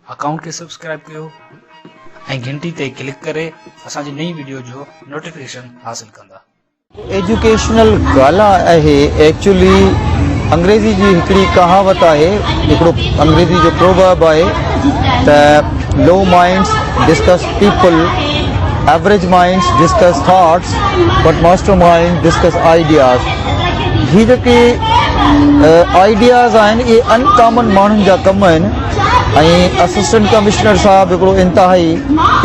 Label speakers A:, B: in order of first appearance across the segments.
A: Account کي subscribe ڪيو ۽ گهنٽي تي ڪلڪ ڪري اسان جي نئين وڊيو جو نوٽيفڪيشن حاصل ڪندا. ايجوڪيشنل
B: گالا اهي ايڪچولي انگريزي جي هڪڙي ڪهاوت آهي هڪڙو انگريزي جو پروورب آهي ته low minds discuss people average minds discuss thoughts but master mind discuss ideas هي جيڪي آئيڊياز آهن اهي ان ڪامن ماڻهن جا ڪم آهن ۽ اسسٽنٽ ڪمشنر صاحب هڪڙو انتهائي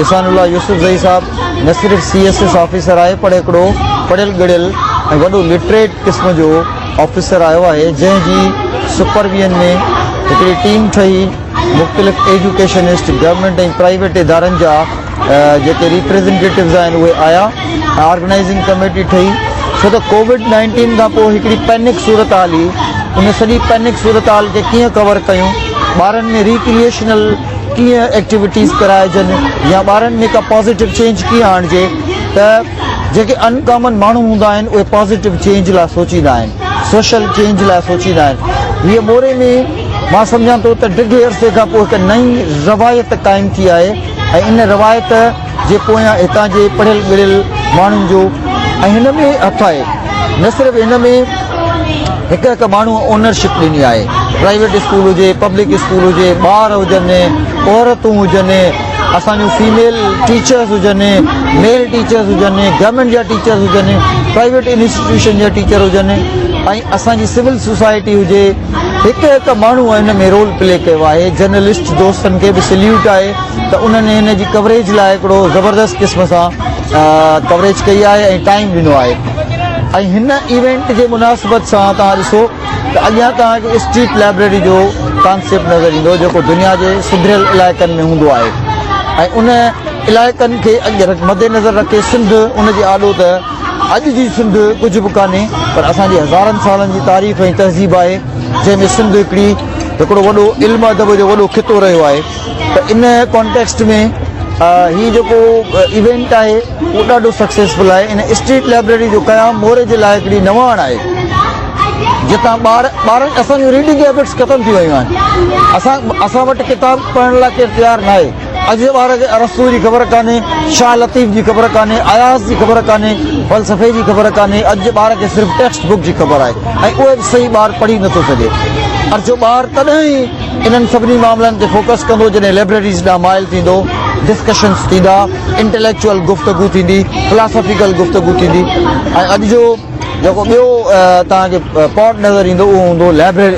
B: احسان الله يوسف زئي صاحب نه صرف سي ايس ايس آفيسر آهي پر هڪڙو پڙهيل ڳڙهيل ۽ وڏو لٽريٽ قسم جو آفيسر آيو آهي جنهن جي سپرويئن ۾ هڪڙي ٽيم ٺهي مختلف ايجوڪيشنسٽ گورنمينٽ ۽ پرائيويٽ ادارن جا جيڪي ريپريزنٽيٽوز آهن اهي آيا ۽ آرگنائيزنگ ڪميٽي ٺهي ڇو ته ڪووڊ نائنٽين کان پوء هڪڙي پينڪ صورتحال هئي ان سڄي پينڪ صورتحال کي ڪيئن ڪور ڪيون ٻارن ۾ ريڪريئشنل ڪيئن ايڪٽيوٽيز ڪرائجن يا ٻارن ۾ ڪا پازيٽو چينج ڪيئن آڻجي ته جيڪي ان ڪامن ماڻهو هوندا آهن اهي پازيٽو چينج لاء سوچيندا آهن سوشل چينج لاء سوچيندا آهن هيء موري ۾ مان سمجهان ٿو ته ڊگهي عرصي کان پوء هڪ نئين روايت قائم ٿي آهي ۽ ان روايت جي پويان هتان جي پڙهيل ڳڙهيل ماڻهن جو ۽ هن ۾ هٿ آهي نه صرف ان ۾ هڪ هڪ ماڻهو اونر شپ ڏني آهي پرائيويٽ اسڪول هجي پبلڪ اسڪول هجي ٻار هجن عورتون هجن اسان جون فيميل ٽيچرس هجن ميل ٽيچرس هجن گورنمنٽ جا ٽيچرس هجن پرائيويٽ انسٽيٽيوشن جا ٽيچر هجن ۽ اسان جي سول سوسائٽي هجي هڪ هڪ ماڻهو هن ۾ رول پلي ڪيو آهي جرنلسٽ دوستن کي به سليوٽ آهي ته انهن هن جي ڪوريج لاء هڪڙو زبردست قسم سان ڪوريج ڪئي آهي ۽ ٽائيم ڏنو آهي ۽ هن ايونٽ جي مناسبت سان توهان ڏسو ته اڳيان توهان کي اسٽريٽ لائبريري جو ڪانسيپٽ نظر ايندو جيڪو دنيا جي سڌريل علائقن ۾ هوندو آهي ۽ ان علائقن کي مدنظر رکي سنڌ ان جي آڏو ته اڄ جي سنڌ ڪجهه به ڪانهي پر اسان جي هزارن سالن جي تاريخ ۽ تهذيب آهي جنهن ۾ سنڌ هڪڙي هڪڙو وڏو علم ادب جو وڏو خطو رهيو آهي ته ان ڪانٽيڪسٽ ۾ هي جيڪو ايونٽ آهي اهو ڏاڍو سڪسيسفل آهي ان اسٽريٽ لائبريري جو قيام موري جي لاء هڪڙي نواڻ آهي جتان ٻار ٻارن اسان جون ريڊنگ هيبٽس ختم ٿي ويون آهن اسان اسان وٽ ڪتاب پڙهڻ لاء ڪير تيار ناهي اڄ جي ٻار کي ارسطو جي خبر ڪانهي، شاهه لطيف جي خبر ڪانهي، اياز جي خبر ڪانهي، فلسفي جي خبر ڪانهي، اڄ جي ٻار کي صرف ٽيڪسٽ بڪ جي خبر آهي ۽ اهي به صحيح ٻار پڙهي نه ٿو سگهي. اڄ جو ٻار تڏهن ئي انهن سڀني معاملن تي فوڪس ڪندو جڏهن لئبريريز ڏانهن مائل ٿيندو، ڊسڪشنز ٿيندا، انٽيليڪچوئل گفتگو ٿيندي، فلاسافيڪل گفتگو ٿيندي ۽ اڄ جو جيڪو ٻيو توهان کي پاٽ نظر ايندو اهو هوندو لئبريري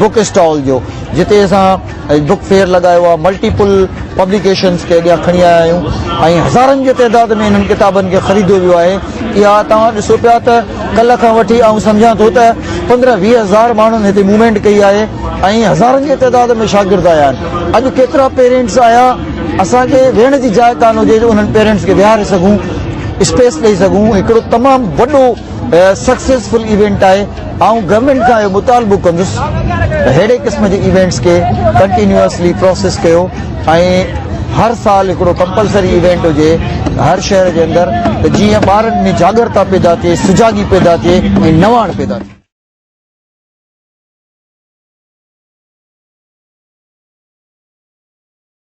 B: بڪ اسٽال جو جتي اسان ۽ بوڪ فيئر لڳايو آهي ملٽيپل پبليڪيشنز کي اڳيان کڻي آيا آهيون ۽ هزارن جي تعداد ۾ انهن ڪتابن کي خريديو ويو آهي اها توهان ڏسو پيا ته ڪلهه کان وٺي آئون سمجهان ٿو ته پندرهن ويهه هزار ماڻهن هتي موومينٽ ڪئي آهي ۽ هزارن جي تعداد ۾ شاگرد آيا آهن اڄ ڪيترا پيرينٽس آيا اسان کي ويهڻ جي جاء ڪانه هجي جو انهن پيرينٽس کي ويهاري سگهون اسپيس ڏئي سگهون هڪڙو تمام وڏو سڪسيسفل ايونٽ آهي آئون گورنمينٽ کان اهو مطالبو ڪندس ته ههڙي قسم جي ايونٽس کي ڪنٽينيوسلي پراسيس ڪيو ۽ هر سال هڪڙو ڪمپلسري ايونٽ هجي هر شهر جي اندر ته جيئن ٻارن ۾ جاڳرتا پيدا ٿئي سجاڳي پيدا ٿئي ۽ نواڻ پيدا ٿئي.